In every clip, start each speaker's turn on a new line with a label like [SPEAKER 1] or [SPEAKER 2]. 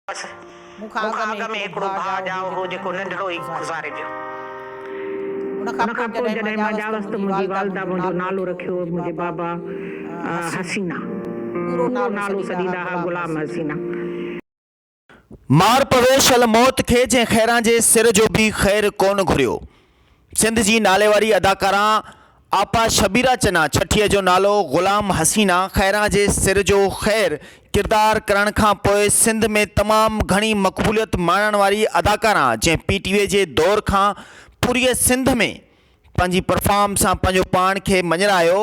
[SPEAKER 1] بس مون کان اڳ ۾ هڪڙو ڀاء ڄائو هو جيڪو ننڍڙو ئي گذاري ويو. ان کان پوء جڏهن مان ڄاوس ته منهنجي والده منهنجو نالو رکيو هو منهنجي بابا حسينه. پورو نالو سڏيندا ها غلام حسينه. مار
[SPEAKER 2] پوي شل موت کي جنهن خيران جي سر جو به خير ڪونه گهريو. سنڌ جي ناليواري اداڪارا آپا شبيرا چنا ڇٺيء جو نالو غلام حسينا خيران جي سر جو خير ڪردار ڪرڻ کان پوء سنڌ ۾ تمام گهڻي مقبوليت ماڻڻ واري اداڪارا جنهن پي ٽي وي جي دور کان پوريء سنڌ ۾ پنهنجي پرفارم سان پنهنجو پاڻ کي مڃرايو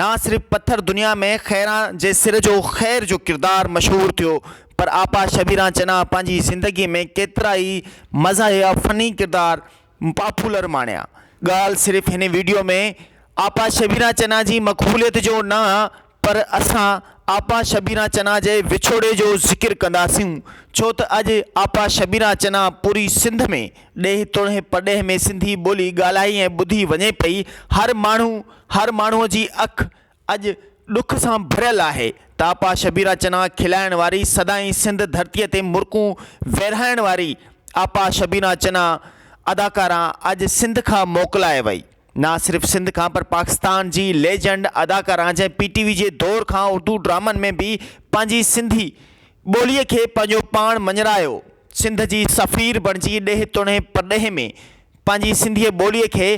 [SPEAKER 2] نه صرف پٿر دنيا ۾ خيران جي سر جو خير جو ڪردار مشهور ٿيو پر آپا شبيرا چنا پنهنجي زندگي ۾ ڪيترائي مزاحيه فني ڪردار پاپولر ماڻيا. ڳالهه صرف هن ويڊيو ۾ آپا شبينا چنا جي مقبوليت جو نه پر اسان آپا شبينا چنا جي وڇوڙي جو ذڪر ڪنداسون ڇو ته اڄ آپا شبينا چنا پوري سنڌ ۾ ڏيهه توڙي پرڏيهه ۾ سنڌي ٻولي ڳالهائي ۽ ٻڌي وڃي پئي هر ماڻهو هر ماڻهو جي اک اڄ ڏک سان ڀريل آهي ته آپا شبيره چنا کلائڻ واري سدائين سنڌ ڌرتيء تي مرڪون ويرهائڻ واري آپا شبيره چنا اداڪارا اڄ سنڌ کان موڪلائي وئي نه صرف سنڌ کان پر پاڪستان جي ليجنڊ اداڪارا جنهن پي ٽي وي جي دور کان اردو ڊرامن ۾ به پنهنجي سنڌي ٻولي کي پنهنجو پاڻ مڃرايو سنڌ جي سفير بڻجي ڏيهه توڙي پرڏيهه ۾ پنهنجي سنڌي ٻولي کي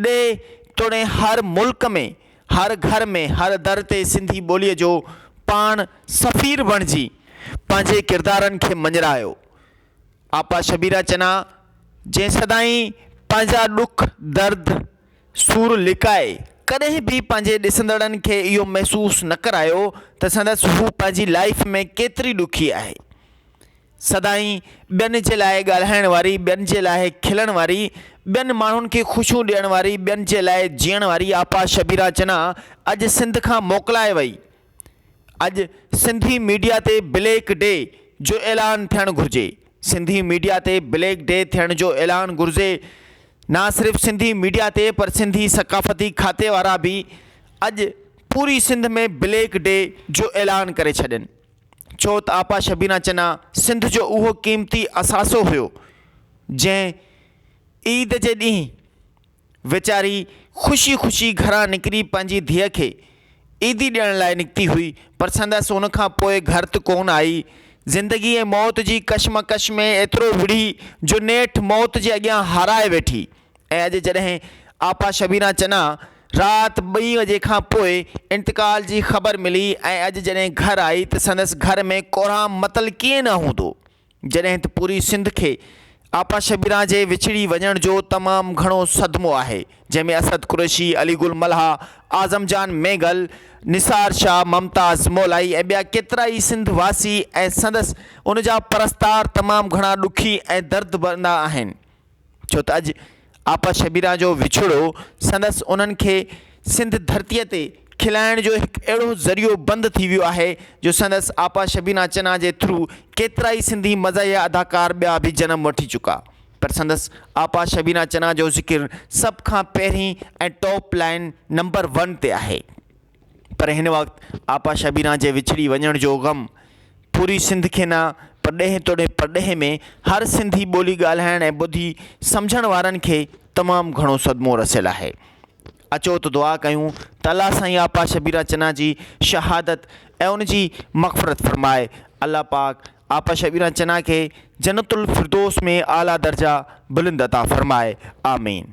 [SPEAKER 2] ڏيهه توڙي هر ملڪ ۾ هر گهر ۾ هر در تي سنڌي ٻوليء جو پاڻ سفير بڻجي پنهنجي ڪردارن کي مڃرايو. آپا شبيره چنا جنهن سدائين پنهنجا ڏک، درد، سور لڪائي ڪڏهن به پنهنجي ڏسندڙن کي اهو محسوس نه ڪرايو ته سندس هو پنهنجي لائيف ۾ ڪيتري ڏکي آهي. سدائين ٻين جي لاء ڳالهائڻ واري، ٻين جي لاء کلڻ واري، ٻين ماڻهن کي خوشيون ڏيڻ واري، ٻين جي لاء جيئڻ واري آپا شبيرا چنا اڄ سنڌ کان موڪلائي وئي. اڄ سنڌي ميڊيا تي بليڪ ڊي جو اعلان ٿيڻ گهرجي. سنڌي ميڊيا تي بليڪ ڊي ٿيڻ جو اعلان گهرجي. نه صرف سنڌي ميڊيا تي پر سنڌي ثقافتي کاتي وارا به اڄ پوري سنڌ ۾ بليڪ ڊي جو اعلان ڪري ڇڏين. ڇو ته آپا شبينا چنا سنڌ جو اهو قيمتي اثاثو هيو جنهن عيد جي ڏينهن ويچاري خوشي خوشي گهران نڪري پنهنجي ڌيء کي عيدي ڏيڻ لاء نڪتي هئي پر سندس ان کان پوء گهرت ڪونه آئي. زندگي ۽ موت جي ڪشمڪش ۾ ايترو وڙهي جو نيٺ موت جي اڳيان هارائي ويٺي. ۽ اڄ جڏهن آپا شبينا چنا رات ٻئي وجي کان پوء انتقال جي خبر ملي ۽ اڄ جڏهن گهر آئي ته سندس گهر ۾ ڪورهام متل ڪيئن نه هوندو جڏهن ته پوري سنڌ کي آپا شبينا جي وڇڙي وڃڻ جو تمام گهڻو صدمو آهي جنهن ۾ اسد قريشي، علي گل ملهه، اعظم جان مينگل، نثار شاهه، ممتاز مولائي ۽ ٻيا ڪيترائي سنڌ واسي ۽ سندس ان جا پرستار تمام گهڻا ڏکي ۽ درد ڀرندا آهن. ڇو ته اڄ آپا شبيرا جو وڇوڙو سندس انهن کي سنڌ ڌرتيء تي کلائڻ جو هڪ اهڙو ذريعو بند ٿي ويو آهي جو سندس آپا شبينا چنا جي ٿرو ڪيترا ئي سنڌي مزاحيه اداڪار ٻيا به جنم وٺي چڪا پر سندس آپا شبينا چنا جو ذڪر سڀ کان پهرين ۽ ٽاپ لائين نمبر ون تي آهي. پر هن وقت آپا شبينا جي وڇڙي وڃڻ جو غم پوري سنڌ کي نه پر ڏيهه توڙي پرڏيهه ۾ هر سنڌي ٻولي ڳالهائڻ ۽ ٻڌي سمجهڻ وارن کي تمام گهڻو صدمو رسيل آهي. اچو ته دعا ڪيون ته الله سائين آپا شبينا چنا جي شهادت ۽ ان جي مغفرت فرمائي. الله پاڪ آپا شبينا چنا کي جنت الفردوس ۾ اعليٰ درجا بلند عطا فرمائي. آمين.